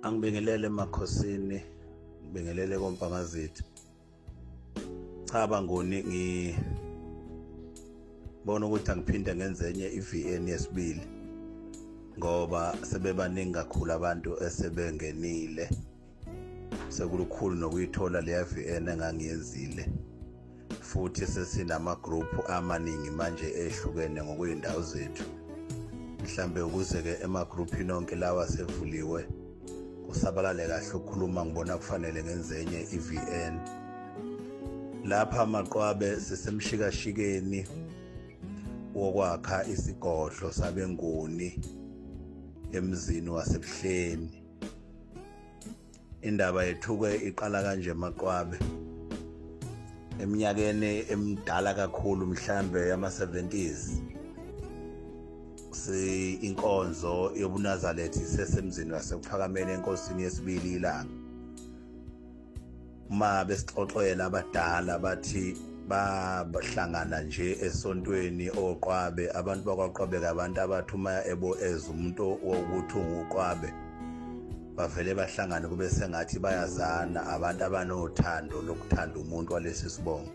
angibingelele emakhosini ngibingelele kompangazitha cha bangoni ngi bona ukuthi angiphinde ngenze enye i-VN yesibili ngoba sebebaningi kakhulu abantu esebengenile sekulukhulu nokuyithola leya VN engangiyenzile futhi sesinamagroupu amaningi manje ehlukene ngokwey'ndawo zethu mhlambe ukuze-ke emagruphini onke lawa sevuliwe kusabalale kahle ukukhuluma ngibona kufanele ngenze enye i-vn lapha maqwabe sisemshikashikeni wokwakha isigodlo sabenguni emzini wasebuhleni indaba yethuke iqala kanje maqwabe eminyakeni emidala kakhulu mhlambe yama-70s si inkonzo yobunazalethi sesemzini wasekuphakamenye enkosini yesibili ilanga uma besixoxela abadala bathi bahlangana nje esontweni oqwabe abantu bakwaqwabe kabantu abathi uma ebo ez umuntu wokuthi unguqwabe bavele bahlangane kube sengathi bayazana abantu abanothando lokuthanda umuntu walesi sibongo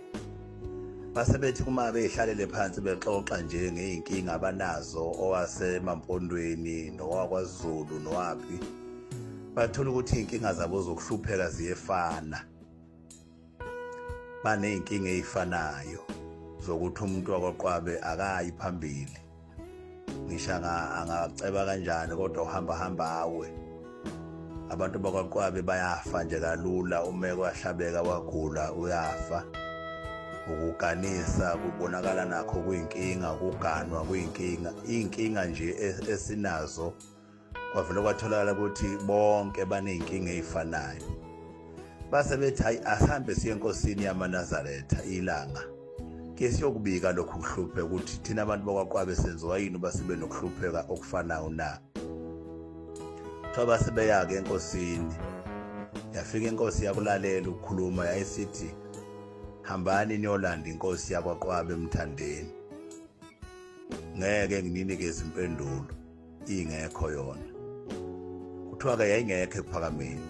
base bethi uma beyihlalele phansi bexoxa nje ngey'nkinga abanazo owasemampondweni nowakwazulu nowaphi bathola ukuthi iy'nkinga zabo zokuhlupheka ziyefana baney'nkinga ey'fanayo zokuthi umuntu wakwaqwabe akayi phambili ngisho angaceba kanjani kodwa uhamba hamba awe abantu bakwaqwabe bayafa nje kalula uma kwahlabeka wagula uyafa ukuganisa kubonakala nakho kuyinkinga ukuganwa kuyinkinga iy'nkinga nje e-, esinazo kwavele kwatholakala ukuthi bonke baney'nkinga ey'fanayo base bethi hayi asihambe siye enkosini yamanazaretha ilanga ke siyokubika lokhu kuhlupheka ukuthi thina abantu bakwaqwabe senziwa yini uba sibe nokuhlupheka okufanayo na kuthiwa base beya-ke enkosini yafika inkosi yakulalela ukukhuluma yayisithi hambani niyolanda inkosi yakwaqwabe emthandeni ngeke ngininike izimpendulo ingekho yona kuthiwa-ke yayingekho ekuphakameni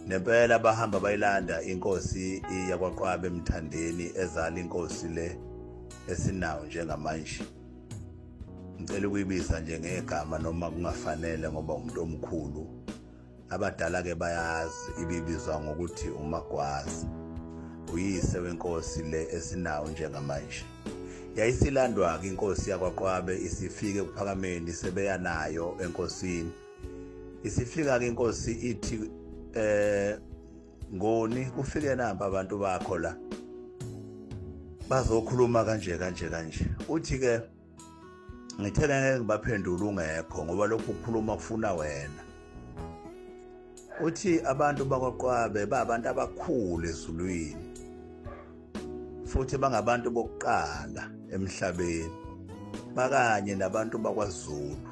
nempela bahamba bayilanda inkosi yakwaqwabe emthandeni ezala inkosi le esinawo njengamanje ngicela ukuyibisa nje ngegama noma kungafanele ngoba umuntu omkhulu Abadala ke bayazi ibibizwa ngokuthi umagwazi. Uyise wenkosi le esinawo njengamanje. Yayisilandwa-ke inkosi yakwaQwabe isifike kuphakameni sebeya nayo enkosini. Isifika-ke inkosi ithi eh ngoni kufike namba abantu bakho la bazokhuluma kanje kanje kanje uthi ke ngithe ngeke ngibaphendule ungekho ngoba lokhu kukhuluma kufuna wena uthi abantu bakwaQwabe babantu abakhulu ezulwini futhi bangabantu bokuqala emhlabeni bakanye nabantu bakwaZulu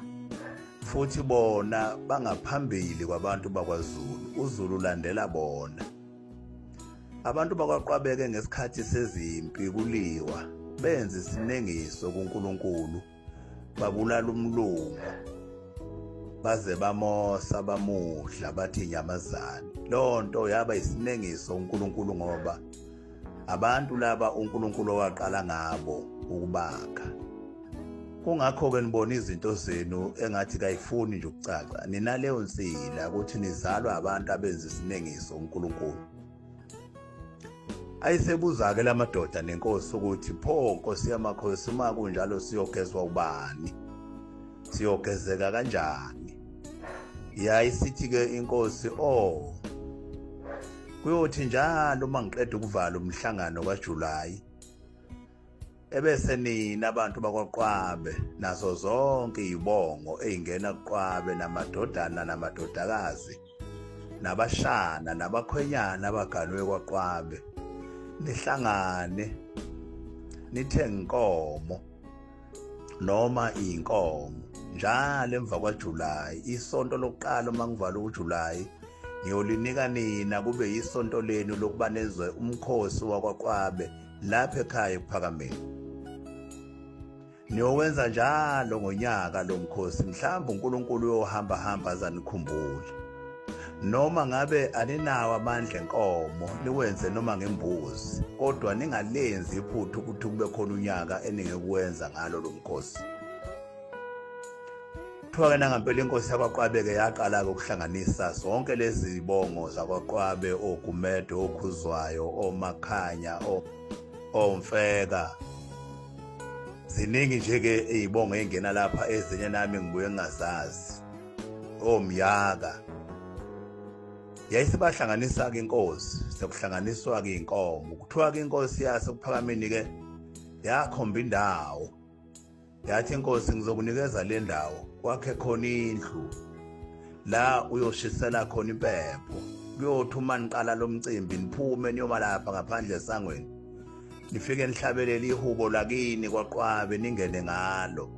futhi bona bangaphambili kwabantu bakwaZulu uZulu landela bona Abantu bakwaqwabeke ngesikhathi sezimpi kuliwa benza isinengiso kuNkulunkulu babulala umlungu baze bamosa bamudla bathi inyamazane lonto yaba isinengiso uNkulunkulu ngoba abantu laba uNkulunkulu owaqala ngabo ukubakha kungakho-ke nibona izinto zenu engathi kayifuni nje ukucaca ninaleyo nsila ukuthi nizalwa abantu abenza isinengiso unkulunkulu ayisebuza-ke la madoda nenkosi ukuthi pho nkosi yamakhosi uma kunjalo siyogezwa ubani siyogezeka kanjani yayisithi-ke inkosi o oh, kuyothi njalo uma ngiqeda ukuvala umhlangano kajulayi ebese nina abantu bakwaQwabe nazo zonke izibongo ezingena kuQwabe namadodana namadodakazi nabashana nabakhwenyana abaganwe kwaQwabe nihlangane nithe inkomo noma inkomo njalo emva kwaJuly isonto lokuqala uma ngivala uJuly ngiyolinika nina kube yisonto lenu lokuba nezwe umkhosi wakwaQwabe lapha ekhaya ekuphakameni niyowenza njalo ngonyaka lo mkhosi mhlawumbe uNkulunkulu uyohamba hamba azanikhumbule noma ngabe aninawo amandla enkomo niwenze noma ngembuzi kodwa ningalenzi iphuthu ukuthi kube khona unyaka eningekuwenza ngalo lo mkhosi Kuthiwa-ke nangampela inkosi yakwaQwabe-ke yaqala-ke ukuhlanganisa zonke lezi zibongo zakwaQwabe, oGumede, oKhuzwayo, oMakhanya, oMfeka. Ziningi nje-ke iy'bongo ey'ngena lapha ezinye nami ngibuye ngingazazi, oMyaka. Yayisebahlanganisa-ke inkosi, sekuhlanganiswa-ke iy'nkomo. Kuthiwa-ke inkosi yaseKuphakameni-ke yakhomba indawo yathi inkosi ngizokunikeza le ndawo kwakhe khona indlu la uyoshisela khona impepho kuyothi uma niqala lo mcimbi niphume niyoma lapha ngaphandle esangweni nifike nihlabelele ihubo lakini kwaqwabe ningene ngalo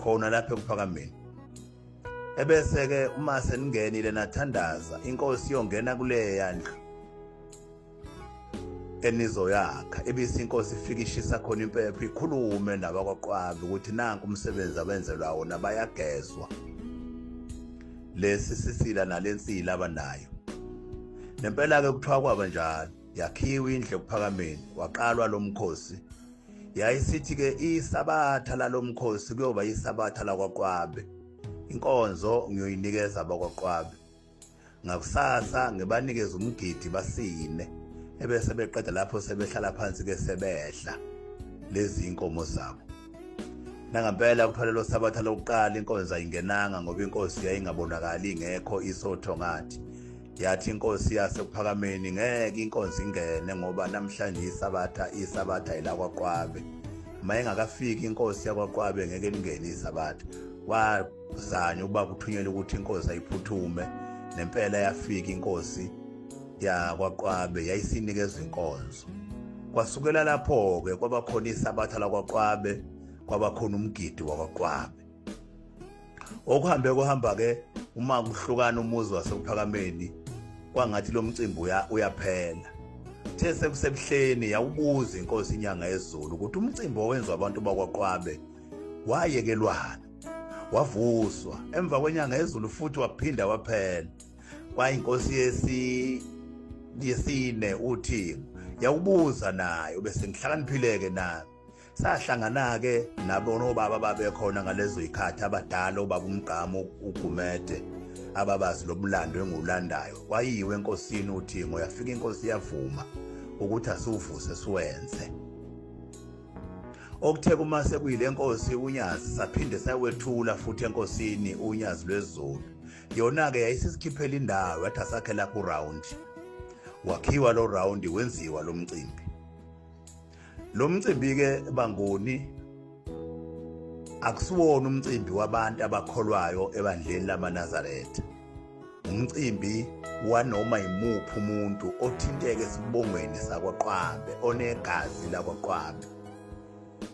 khona lapha ekuphakameni ebese-ke uma seningenile nathandaza inkosi iyongena kuleya ndlu enizoyakha ebisi inkosi ifike ishisa khona impepho ikhulume nabakwaQwabe ukuthi nanku umsebenzi abenzelwa wona bayagezwa lesi sisila nalensila abanayo nempela ke kuthiwa kwaba njalo yakhiwa indle kuphakameni waqalwa lo mkhosi yayisithi ke isabatha lalomkhosi kuyoba isabatha lakwaQwabe inkonzo ngiyoyinikeza abakwaQwabe ngakusasa ngibanikeza umgidi basine ebese beqeda lapho sebehlala phansi ke sebedla lezi inkomo zabo nangampela kuphelelo sabatha lokuqala inkonzo ayingenanga ngoba inkosi yayingabonakali ingekho isotho ngathi yathi inkosi yasekuphakameni ngeke inkonzo ingene ngoba namhlanje isabatha isabatha ilakwaqwabe uma ingakafiki inkosi yakwaqwabe ngeke lingene isabatha zani uba kuthunyelwe ukuthi inkosi ayiphuthume nempela yafika inkosi yakwaqwabe yayisinikezwa inkonzo kwasukela lapho-ke kwabakhona isabatha lakwaqwabe kwabakhona umgidi wakwaqwabe okuhambe kuhamba-ke uma kuhlukana umuzi wasephakameni kwangathi lo mcimbi uyaphela the sekusebuhleni yawubuza inkosi inyanga yezulu ukuthi umcimbi owenziwa abantu bakwaqwabe wayekelwana wavuswa emva kwenyanga ezulu futhi waphinda waphela kwayinkosi yesi yesine uthi yawubuza naye ubese ngihlakaniphileke nami sahlangana-ke nabonobaba babekhona ngalezo yikhathi abadala obaba umgqamo ugumede ababazi lo mlando engiwulandayo kwayiwe enkosini uthingo yafika inkosi yavuma ukuthi asiwuvuse siwenze okuthe kuma sekuyile nkosi unyazi saphinde sayowethula futhi enkosini unyazi lwezulu yona-ke yayisesikhiphela indawo yathi asakhe lapho uround wakhiwa lo round wenziwa lo mcimbi lo mcimbi-ke bangoni akusiwona umcimbi wabantu abakholwayo ebandleni lamanazaretha umcimbi wanoma yimuphi umuntu othinteke esibongweni sakwaQwambe onegazi lakwaQwambe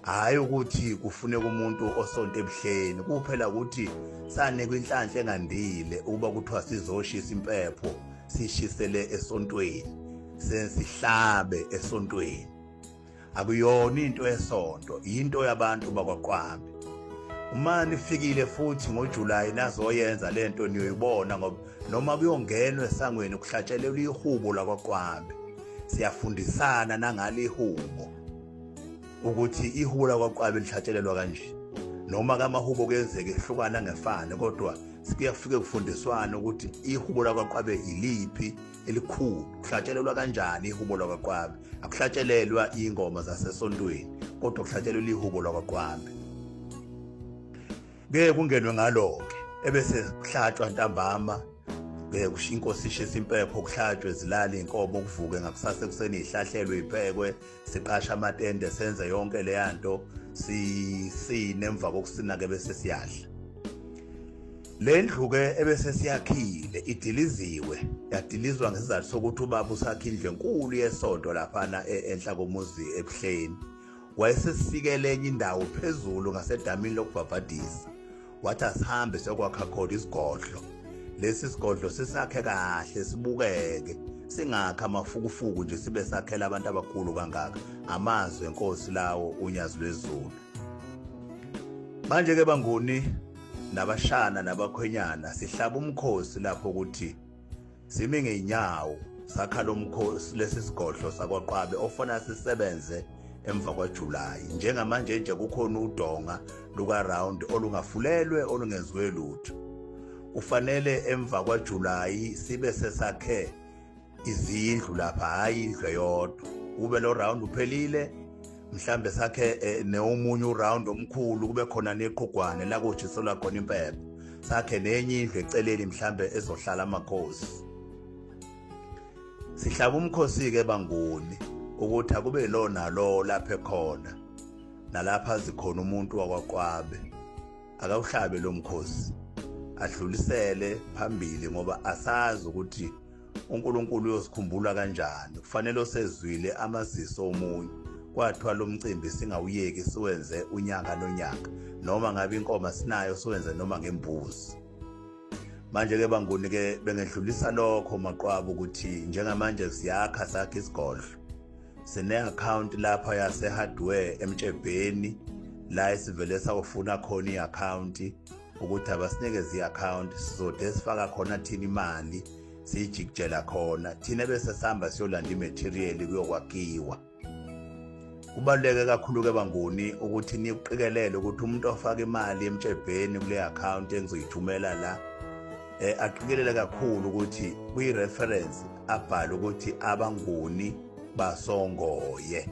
hhayi ukuthi kufuneka umuntu osonto ebuhleni kuphela ukuthi sane kwinhlanhla engandile ukuba kuthiwa sizoshisa impepho sishisele esontweni sensihlabe esontweni akuyona into esonto into yabantu bakwaQwambi uma nifikile futhi ngoJulayi nazoyenza lento niyoyibona ngoba noma kuyongenwa esangweni kuhlatshelelwa ihubo lakwaQwambi siyafundisana nangale ihubo ukuthi ihubo lakwaQwambi lihlatshelelwa kanje noma kamahubo kuyenzeka ehlukana ngefane kodwa kuyafike kufundiswana ukuthi ihubo lakwaQwabe iliphi elikhulu kuhlatshelelwa kanjani ihubo lwakwaQwabe akuhlatshelelwa ingoma zasesontweni kodwa kuhlatshelelwa ihubo lwakwaQwabe ngeke kungenwe ngalo-ke ebese kuhlatshwa ntambama ngeke kusho inkosi ishisa impepho kuhlatshwe zilale iy'nkomo kuvuke ngakusasa ekuseni ihlahlelwe iphekwe siqasha amatende senze yonke leya nto sisine emva kokusina-ke bese siyadla le ndlu-ke ebese siyakhile idiliziwe yadilizwa ngesizathu sokuthi ubaba usakha indlu enkulu yesonto laphana e-, enhla komuzi ebuhleni wayesesisikele enye indawo phezulu ngasedamini lokubhabhadisa wathi asihambe sekwakha khona isigodlo lesi sigodlo sisakhe kahle sibukeke singakha amafukufuku nje sibe sakhela abantu abakhulu kangaka amazwi enkosi lawo unyazi lwezulu manje ke banguni nabashana nabakhwenyana sihlaba umkhosi lapho ukuthi simi ngeenyawo sakha lo mkhosi lesi sigodlo sakwaqwabe ofuna sisebenze emva kwajulayi njengamanje nje kukhona udonga lukaround olungafulelwe olungenziwe lutho kufanele emva kwajulayi sibe sesakhe izindlu lapha hhayi indlu eyodwa kube lo round uphelile mhlambe sakhe eh, neomunye uround omkhulu kube khona neqhugwane la kojiselwa khona impepho sakhe nenye indlu eceleni mhlambe ezohlala amakhosi sihlaba umkhosi ke banguni ukuthi akube lona lo lapha ekhona nalapha zikhona umuntu wakwaqwabe akawuhlabe lo mkhosi adlulisele phambili ngoba asazi ukuthi uNkulunkulu uyosikhumbula kanjani kufanele osezwile amaziso omunye kwathiwa lo mcimbi singawuyeki siwenze unyaka nonyaka noma ngabe inkoma sinayo siwenze noma ngembuzi manje-ke banguni-ke bengedlulisa lokho maqwaba ukuthi njengamanje siyakha sakhe isigodlo sine-akhawunti lapha yase-hardware emtshebheni la esivele sakufuna khona i-akhawunti ukuthi abasinikeze i-akhawunti sizode sifaka khona thina imali siyijikijela khona thina bese sihamba siyolanda imathiriyeli kuyokwakhiwa kubaluleke kakhulu-ke banguni ukuthi nikuqikelele ukuthi umuntu ofaka imali emtshebheni kule akhawunti engizoyithumela la um aqikelele kakhulu ukuthi kwi-reference abhale ukuthi abanguni basongoye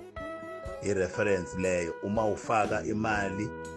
i-reference leyo uma ufaka imali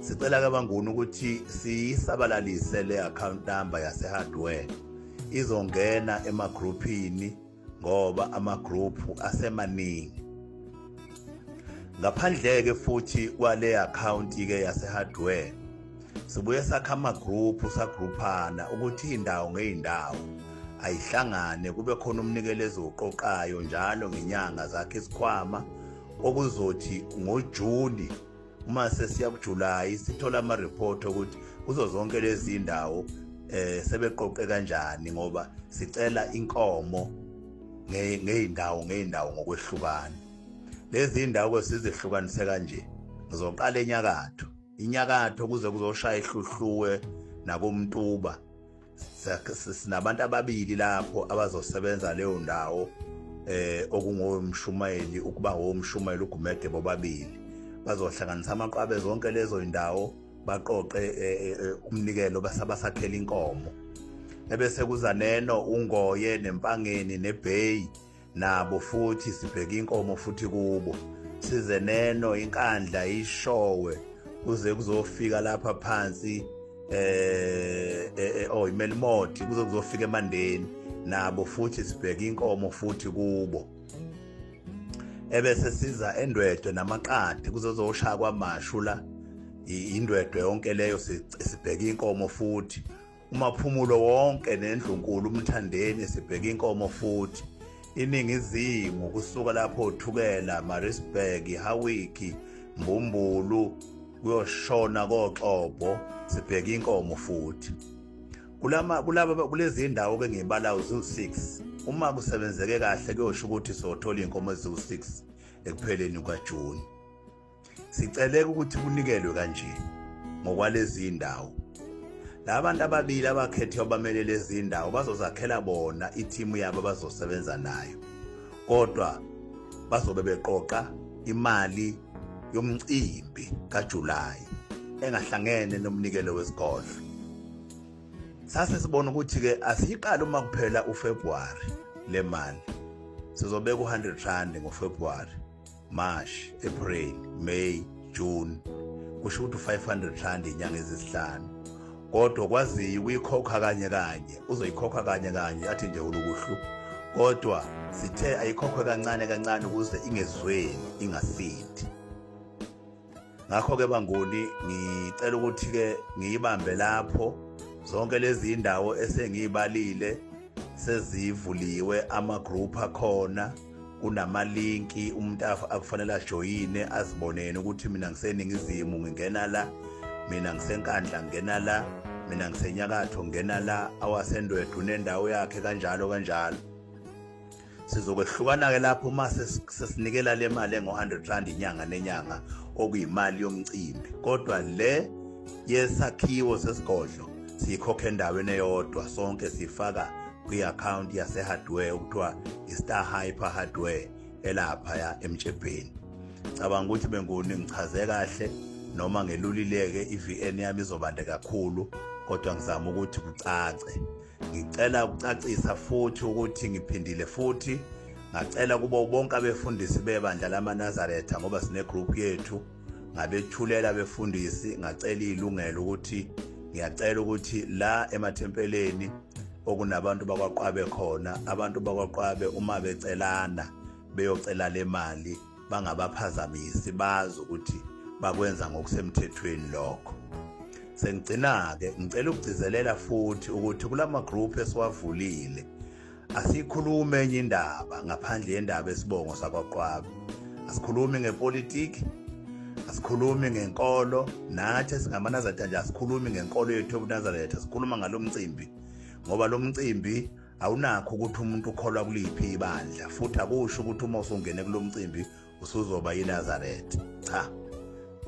Sicela ke banguni ukuthi siyisabalalise le account number yase hardware izongena ema groupini ngoba ama group asemaningi. Ngaphandle ke futhi kwale account ke yase hardware sibuye sakha ama group sa groupana ukuthi indawo ngeindawo ayihlangane kube khona umnikelezi oqoqayo njalo ngenyanga zakhe isikhwama okuzothi ngoJuni uma sesiya kuJuly sithola ama report ukuthi kuzo zonke lezi ndawo eh sebeqoqe kanjani ngoba sicela inkomo ngeyindawo ngeyindawo ngokwehlukana lezi ndawo sizihlukanise kanje ngizoqala enyakatho inyakatho kuze kuzoshaya ihluhluwe nakomtuba sinabantu ababili lapho abazosebenza leyo ndawo eh okungowomshumayeli ukuba ngowomshumayeli uGumede bobabili bazohlanganisa amaqwabe zonke lezo indawo baqoqe eh, eh, eh, umnikelo basabasakhela inkomo ebese kuzaneno ungoye nempangeni nebheyi nabo futhi sibheka inkomo futhi kubo size neno inkandla ishowe kuze kuzofika lapha phansi eh, eh, eh oh imelimoti kuze kuzofika emandeni nabo futhi sibheka inkomo futhi kubo ebese siza endwedwe namaqadi kuzozoshaya kwamashu la indwedwe yonke leyo sibheka inkomo futhi uMaphumulo wonke nendlunkulu uMthandeni sibheke inkomo futhi iningizimu kusuka lapho uthukela Maritzburg Hawiki Mbumbulu kuyoshona koXobho sibheke inkomo futhi kulama kulaba kulezi ndawo ke ngibala uzu6 uma kusebenzeke kahle kuyosho ukuthi sothola inkomo eziwu6 ekupheleni kwaJune Siceleka ukuthi kunikelwe kanje ngokwalezi ndawo. Labantu ababili abakhethe abamele lezi ndawo bazozakhela bona ithimu yabo bazosebenza nayo. Kodwa bazobe beqoqa imali yomcimbi kaJuly engahlangene nomnikelo wesigodlo. Sase sibona ukuthi ke asiyiqala uma kuphela uFebruary le mali. Sizobeka u100 rand ngoFebruary. March, April, May, June kusho ukuthi 500 rand inyanga ezisihlanu kodwa kwaziyi uyikhokha kanye kanye uzoyikhokha kanye kanye athi nje ulukuhlu kodwa sithe ayikhokhwe kancane kancane ukuze ingezweni ingasithi ngakho-ke banguni ngicela ukuthi-ke ngiyibambe lapho zonke lezi indawo esengiyibalile sezivuliwe ama-group akhona kunamalinki umuntu akufanele ajoyine aziboneni ukuthi mina ngiseningizimu ngingena la mina ngisenkandla ngingena la mina ngisenyakatho ngingena la awasendwedwe unendawo yakhe kanjalo kanjalo sizokwehlukana-ke lapho uma sesinikela le mali engo-100 rand inyanga nenyanga okuyimali yomcimbi kodwa le yesakhiwo sesigodlo siyikhokha endaweni eyodwa sonke sifaka kwi-akhawunti yase-hardware okuthiwa i-star hyper hardware elaphaya emjebheni cabanga ukuthi benguni ngichaze kahle noma ngelulileke i-vn yami izobande kakhulu kodwa ngizama ukuthi kucace Ngicela ukucacisa futhi ukuthi ngiphindile futhi ngacela kubo bonke abefundisi bebandla lamaNazaretha ngoba sine group yethu ngabethulela abefundisi ngacela ilungelo ukuthi ngiyacela ukuthi la emathempeleni okunabantu bakwaqwabe khona abantu bakwaqwabe uma becelana beyocela le mali bangabaphazamisi bazi ukuthi bakwenza ngokusemthethweni lokho sengigcina-ke ngicela ukugcizelela futhi ukuthi kula magroup esiwavulile asiyikhulumi enye indaba ngaphandle yendaba esibongo sakwaqwaba asikhulumi ngepolitiki asikhulumi ngenkolo nathi esingamanazareth nje asikhulumi ngenkolo yethu yobunazaretha sikhuluma ngalo mcimbi ngoba lo mcimbi Awunakho ukuthi umuntu ukholwa kuliphi ibandla futhi akusho ukuthi uma usungene kulomcimbi usuzoba yiNazaretha. Cha.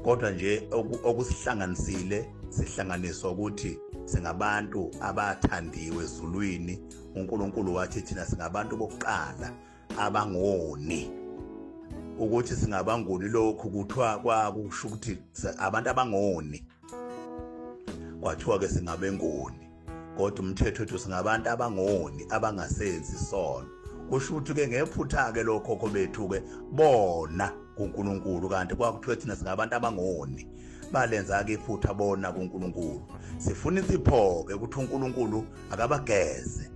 Kodwa nje okusihlanganisile sihlanganiswa ukuthi singabantu abathandiwe ezulwini uNkulunkulu wathi thina singabantu bokuqala abangoni ukuthi singabangoni lokhu kuthiwa kwakusho ukuthi abantu abangoni kwathiwa ke singabengoni kodwa umthetho wethu singabantu abangoni abangasenzi sono kusho ukuthi ke ngephutha ke lokhokho bethu ke bona kuNkulunkulu kanti kwakuthiwa thina singabantu abangoni balenza ke iphutha bona kuNkulunkulu sifuna isipho ke ukuthi uNkulunkulu akabageze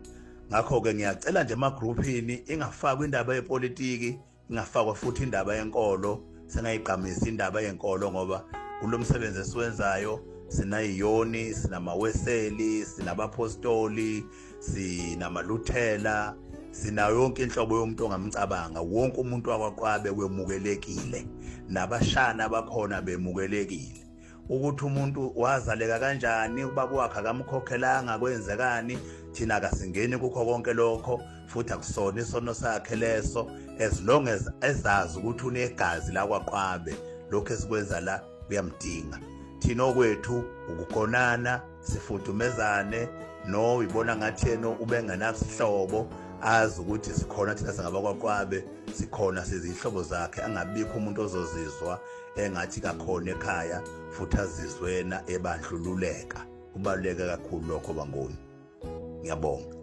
ngakho ke ngiyacela nje emagruphini ingafakwa indaba yepolitiki ingafakwa futhi indaba yenkolo singayigqamisi indaba yenkolo ngoba kulo msebenzi esiwenzayo sinayiyoni sinamaweseli sinabapostoli sinamaluthela sinayo yonke inhlobo yomuntu ongamcabanga wonke umuntu wakwaqwabe wemukelekile nabashana bakhona bemukelekile ukuthi umuntu wazaleka kanjani ubaba wakhe akamkhokhelanga kwenzekani thina kasingeni kukho konke lokho futhi akusona isono sakhe leso as long as ezazi ukuthi unegazi lakwaqwabe lokho esikwenza la kuyamdinga thina okwethu ukugonana sifudumezane no ibona ngathi yena ubengenasihlobo azi ukuthi sikhona thina singabakwaqwabe sikhona sizihlobo zakhe angabikho umuntu ozozizwa engathi kakhona ekhaya futhi azizwena ebandlululeka kubaluleke kakhulu lokho bangoni ngiyabonga